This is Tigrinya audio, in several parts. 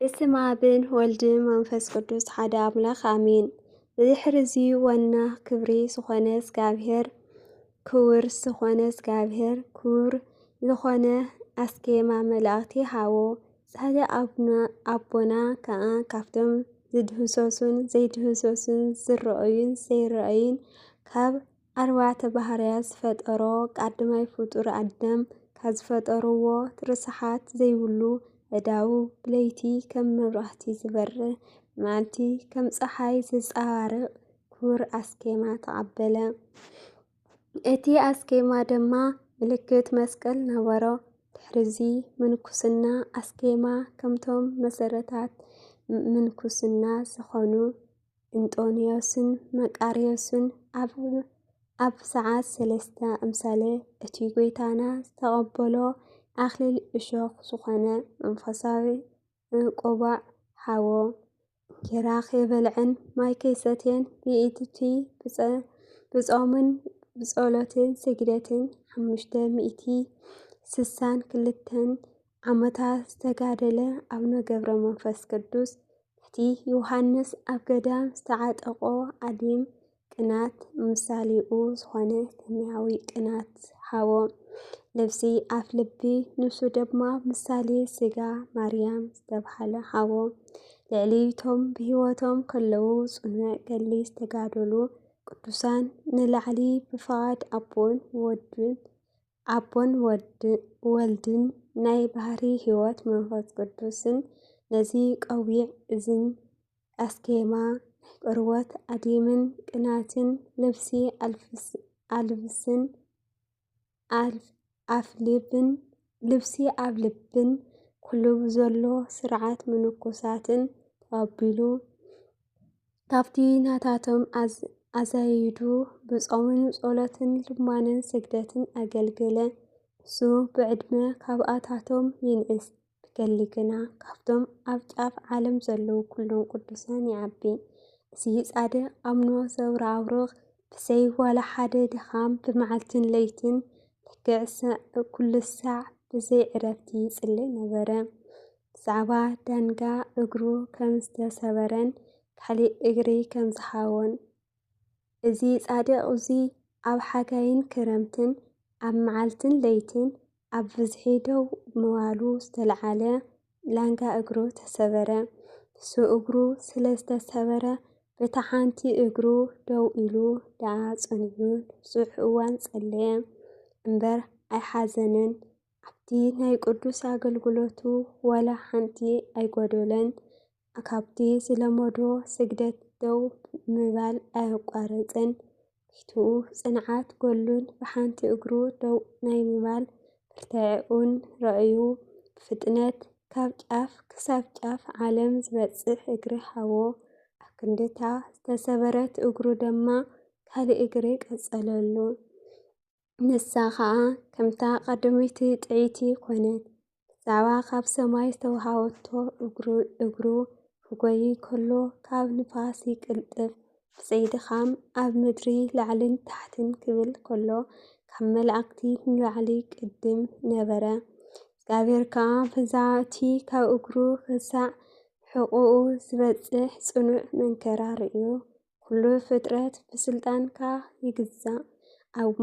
ብስም ኣብን ወልድን መንፈስ ቅዱስ ሓደ ኣምላኽ ኣሜን። ብድሕርዚ ዋና ክብሪ ዝኾነ እግዚኣብሔር ክውር ዝኾነ እግዚኣብሔር ክውር ዝኾነ ኣስኬማ መላእኽቲ ሃቦ። ጻደ ኣብና ኣቦና ከኣ ካብቶም ዝድህሰሱን ዘይድህሰሱን ዝረኣዩን ዘይረኣዩን ካብ ኣርባዕተ ባህርያት ዝፈጠሮ ቃድማይ ፍጡር ኣደም ካብ ዝፈጠርዎ ርሳሓት ዘይብሉ ኣእዳዉ ብለይቲ ከም መብራህቲ ዝበርህ ብመዓልቲ ከም ጸሓይ ዘንጸባርቕ ክቡር ኣስኬማ ተቐበለ። እቲ ኣስኬማ ድማ ምልክት መስቀል ነበሮ። ድሕሪዚ ምንኩስና ኣስኬማ ከምቶም መሰረታት ምንኩስና ዝኾኑ እንጦንዮስን መቃርዮስን ኣብ ሰዓት ሰለስተ ኣምሳለ እቲ ጐይታና ዝተቐበሎ ኣኽሊል እሾኽ ዝኾነ መንፈሳዊ ቆባዕ ሃቦ። እንጌራ ከይበልዐን ማይ ከይሰትየን ብኢድቲ ብጾምን ብጸሎትን ስግደትን ሓሙሽተ ሚእቲ ስሳን ክልተን ዓመታት ዝተጋደለ ኣቡነ ገብረ መንፈስ ቅዱስ እቲ ዮሃንስ ኣብ ገዳም ዝተዓጠቖ ዓሊም ቅናት ምሳሌኡ ዝኾነ ሰማያዊ ቅናት ሃቦ። ልብሲ ኣፍ ልቢ ንሱ ድማ ምሳሌ ስጋ ማርያም ዝተብሃለ ሃቦ ልዕሊቶም ብህይወቶም ከለዉ ጽኑዕ ገሊ ዝተጋደሉ ቅዱሳን ንላዕሊ ብፍቓድ ኣቦን ወድን ኣቦን ወልድን ናይ ባህርይ ሕይወት መንፈስ ቅዱስን ነዚ ቀዊዕ እዝን ኣስኬማ ቅርወት ኣዲምን ቅናትን ልብሲ ኣልብስን ኣፍልብን ልብሲ ኣብ ልብን ኩሉብ ዘሎ ሥርዓት ምንኩሳትን ተቐቢሉ ካብቲ ናታቶም ኣዛይዱ ብጾምን ጸሎትን ልማንን ስግደትን ኣገልገለ። ንሱ ብዕድመ ካብኣታቶም ይንእስ፣ ብገሊ ግና ካብቶም ኣብ ጫፍ ዓለም ዘለዉ ኩሎም ቅዱሳን ይዓቢ። እዚ ጻድቕ ኣምኖ ዘብረኣብሩኽ ብዘይ ዋላ ሓደ ድኻም ብመዓልትን ለይትን ልክዕ ኩሉ ሳዕ ብዘይ ዕረፍቲ ይጽሊ ነበረ። ብዛዕባ ዳንጋ እግሩ ከም ዝተሰበረን ካሊእ እግሪ ከም ዝሃቦን እዚ ጻድቕ እዚ ኣብ ሓጋይን ክረምትን ኣብ መዓልትን ለይትን ኣብ ብዝሒ ደው ምባሉ ዝተልዓለ ላንጋ እግሩ ተሰበረ። ንሱ እግሩ ስለ ዝተሰበረ በታ ሓንቲ እግሩ ደው ኢሉ ደኣ ጸኒዑ ንብዙሕ እዋን ጸለየ እምበር ኣይሓዘነን። ኣብቲ ናይ ቅዱስ ኣገልግሎቱ ዋላ ሓንቲ ኣይጎደሎን። ካብቲ ዝለመዶ ስግደት ደው ምባል ኣየቋረጸን። ፊቱ ጽንዓት ገሉን ብሓንቲ እግሩ ደው ናይ ምባል ብርታዐኡን ረኣዩ፣ ብፍጥነት ካብ ጫፍ ክሳብ ጫፍ ዓለም ዝበጽሕ እግሪ ሃቦ። ኣብ ክንዲ'ታ ዝተሰበረት እግሩ ድማ ካልእ እግሪ ቀጸለሉ። ንሳ ኸኣ ከምታ ቀደመይቲ ጥዕይቲ ኰነት። ብዛዕባ ኻብ ሰማይ ዝተዋህበቶ እግሩ ኺጐዪ ኸሎ፣ ካብ ንፋስ ይቅልጥፍ፣ ብዘይ ድኻም ኣብ ምድሪ ላዕልን ታሕትን ኪብል ከሎ፣ ካብ መላእኽቲ ንላዕሊ ቕድም ነበረ። እግዚኣብሄር ከኣ ብዛዕባ እቲ ኻብ እግሩ ኽሳዕ ሕቝኡ ዚበጽሕ ጽኑዕ መንከራ ርእዩ። ኩሉ ፍጥረት ብስልጣንካ ይግዛእ ኣብ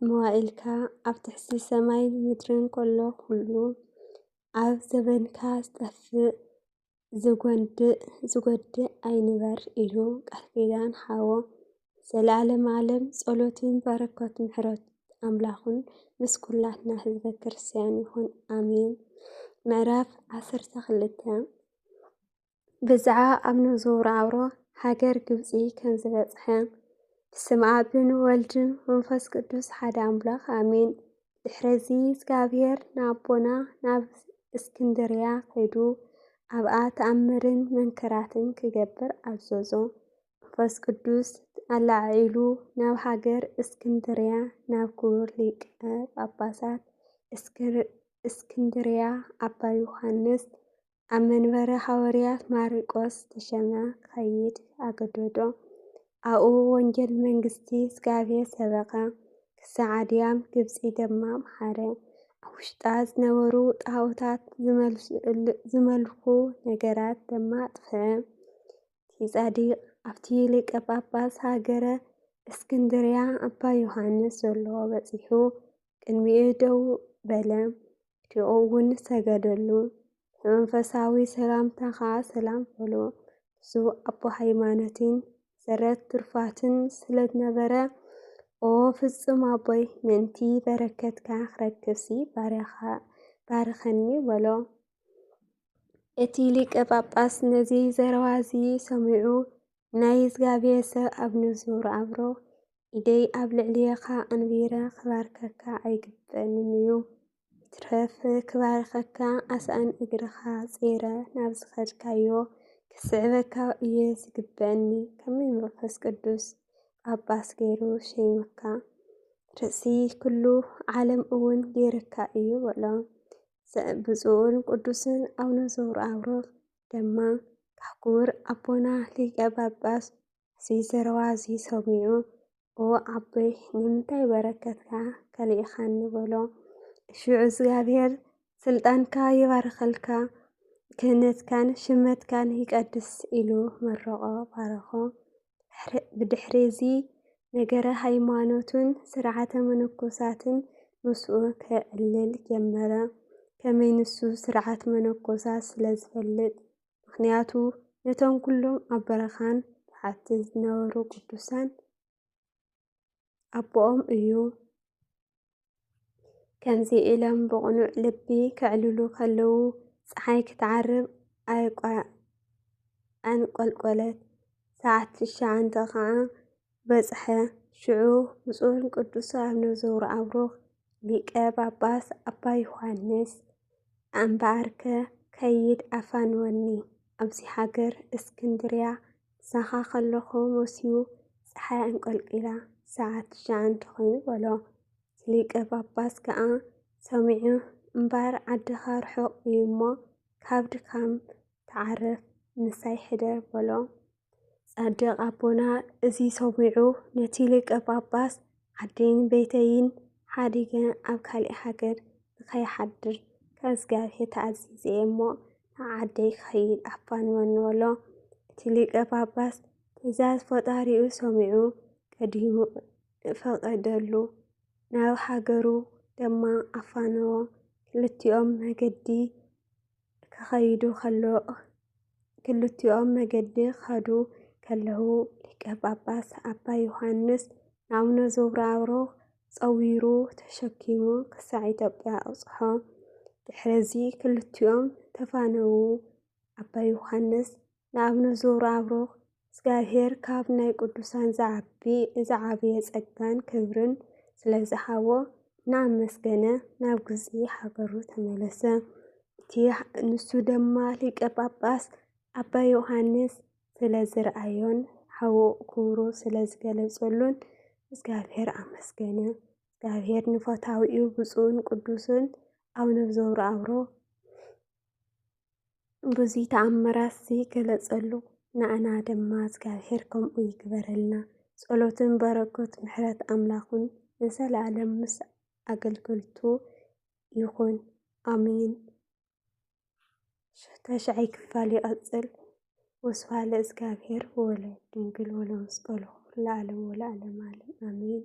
መዋእልካ ኣብ ትሕቲ ሰማይ ምድርን ከሎ ኩሉ ኣብ ዘበንካ ዝጠፍእ ዝጎንድእ ዝጎድእ ኣይንበር ኢሉ ቃል ኪዳን ሓዎ ዘለዓለም ዓለም ጸሎትን በረከት ምሕረት ኣምላኹን ምስ ኩላትና ህዝበ ክርስቲያን ይኹን ኣሜን። ምዕራፍ ዓሰርተ ክልተ ብዛዕባ ኣብ ንዝውሮ ኣብሮ ሃገር ግብጺ ከም ዝበጽሐ። ብስም ኣብን ወልድን መንፈስ ቅዱስ ሓደ ኣምላኽ ኣሜን። ድሕረዚ እግዚኣብሔር ንኣቦና ናብ እስክንድርያ ከይዱ ኣብኣ ተኣምርን መንክራትን ክገብር ኣዘዞ። መንፈስ ቅዱስ ኣላዓዒሉ ናብ ሃገር እስክንድርያ ናብ ክቡር ሊቀ ጳጳሳት እስክንድርያ ኣባ ዮሐንስ ኣብ መንበረ ሃወርያት ማሪቆስ ተሸመ ክኸይድ ኣገደዶ። ኣብኡ ወንጌል መንግስቲ እግዚኣብሔር ሰበኸ፣ ክሳዕ ኣድያም ግብጺ ደማ ኣምሓረ። ኣብ ውሽጣ ዝነበሩ ጣኦታት ዝመልኩ ነገራት ደማ ኣጥፍኣ። እቲ ጻዲቅ ኣብቲ ሊቀ ጳጳስ ሃገረ እስክንድርያ ኣባ ዮሃንስ ዘሎ በጺሑ ቅድሚኡ ደው በለ። ሽዑ እውን ሰገደሉ። ብመንፈሳዊ ሰላምታ ኸዓ ሰላም በሎ። እሱ ኣቦ ሃይማኖትን ሰረት ትሩፋትን ስለ ዝነበረ ኦ ፍጹም ኣቦይ ምእንቲ በረከትካ ክረክብሲ ባርያኻ ባርኸኒ በሎ። እቲ ሊቀ ጳጳስ ነዚ ዘረባ እዚ ሰሚዑ ናይ እግዚኣብሔር ሰብ ኣብ ንዙር ኣብሮ ኢደይ ኣብ ልዕልየኻ ኣንቢረ ክባርከካ ኣይግበእንን እዩ። ይትረፍ ክባርከካ ኣስኣን እግርኻ ጼረ ናብ ዝኸድካዮ ክስዕበካ እየ ዝግበእኒ ከመይ መንፈስ ቅዱስ ጳጳስ ገይሩ ሸይሙካ ርእሲ ኩሉ ዓለም እውን ገይርካ እዩ በሎ። ብፁዕን ቅዱስን ኣቡነ ዘውርኣብሮ ደማ ክቡር ኣቦና ሊቀ ጳጳስ እዚ ዘረባ እዚ ሰሚዑ ኦ ኣቦይ ንምንታይ በረከትካ ከሊእኻኒ በሎ። ሽዑ እግዚኣብሔር ስልጣንካ ይባርኸልካ ክህነትካን ሽመትካን ይቀድስ ኢሉ መረቖ ባረኾ። ብድሕሪ'ዚ ነገረ ሃይማኖቱን ሥርዓተ መነኮሳትን ምስኡ ኬዕልል ጀመረ። ከመይ ንሱ ሥርዓት መነኮሳት ስለ ዝፈልጥ፣ ምኽንያቱ ነቶም ኩሎም ኣብ በረኻን በሓትን ዝነበሩ ቅዱሳን፣ ኣቦኦም እዩ። ከምዚ ኢሎም ብቕኑዕ ልቢ ከዕልሉ ከለዉ ፀሓይ ክትዓርብ ኣንቈልቈለት፣ ሰዓት ትሽዓተ ኸዓ በጽሐ። ሽዑ ብፁዕ ቅዱስ ኣቡነ ዘወርኣብሩኽ ሊቀ ጳጳስ ኣባ ዮሐንስ እምበኣርከ ከይድ ኣፋንወኒ ኣብዚ ሃገር እስክንድርያ ምሳኻ ከለኹ መሲዩ ጸሓይ ኣንቈልቊላ ሰዓት ትሽዓን ተኾይኑ በሎ። እቲ ሊቀ ጳጳስ ከኣ ሰሚዑ እምበር ዓድኻ ርሑቕ እዩ እሞ ካብ ድካም ተዓረፍ ምሳይ ሕደር በሎ። ጻድቕ ኣቦና እዚ ሰሚዑ ነቲ ሊቀ ጳጳስ ዓደይን ቤተይን ሓዲገ ኣብ ካሊእ ሃገር ንከይሓድር ካብ እግዚኣብሔር ተኣዚዘ እየ እሞ ናብ ዓደይ ክኸይድ ኣፋንወኒ በሎ። እቲ ሊቀ ጳጳስ ትእዛዝ ፈጣሪኡ ሰሚዑ ቀዲሙ ፈቐደሉ። ናብ ሃገሩ ድማ ኣፋነዎ። ክልቲኦም መገዲ ክኸይዱ ከሎ ክልቲኦም መገዲ ክኸዱ ከለዉ ሊቀ ጳጳስ ኣባ ዮሃንስ ንኣቡነ ዘብራሮ ጸዊሩ ተሸኪሙ ክሳዕ ኢትዮጵያ ኣብጽሖ። ድሕረዚ ክልቲኦም ተፋነዉ። ኣባ ዮሃንስ ንኣብነት ዘውራኣብሩኽ እግዚኣብሔር ካብ ናይ ቅዱሳን ዝዓቢ ዝዓበየ ጸጋን ክብርን ስለ ዝሃቦ እናኣመስገነ ናብ ግብጺ ሃገሩ ተመለሰ። እቲ ንሱ ድማ ሊቀ ጳጳስ ኣባ ዮሐንስ ስለ ዝረኣዮን ሓዉ ክብሩ ስለ ዝገለጸሉን እግዚኣብሔር ኣመስገነ። እግዚኣብሔር ንፈታዊኡ ብፁዕን ቅዱስን ኣቡነ ዘውራኣብሩኽ ብዙይ ተኣምራት ዝገለጸሉ ንኣና ድማ እግዚኣብሔር ከምኡ ይግበረልና። ጸሎትን በረከት ምሕረት ኣምላኹን ንዘለዓለም ምስ ኣገልገልቱ ይኹን ኣሜን። ተሽዓይ ክፋል ይቐጽል። ወስብሐት ለእግዚኣብሔር ወለድንግል ወለመስቀሉ ክቡር ለዓለም ወለዓለም ዓለም ኣሜን።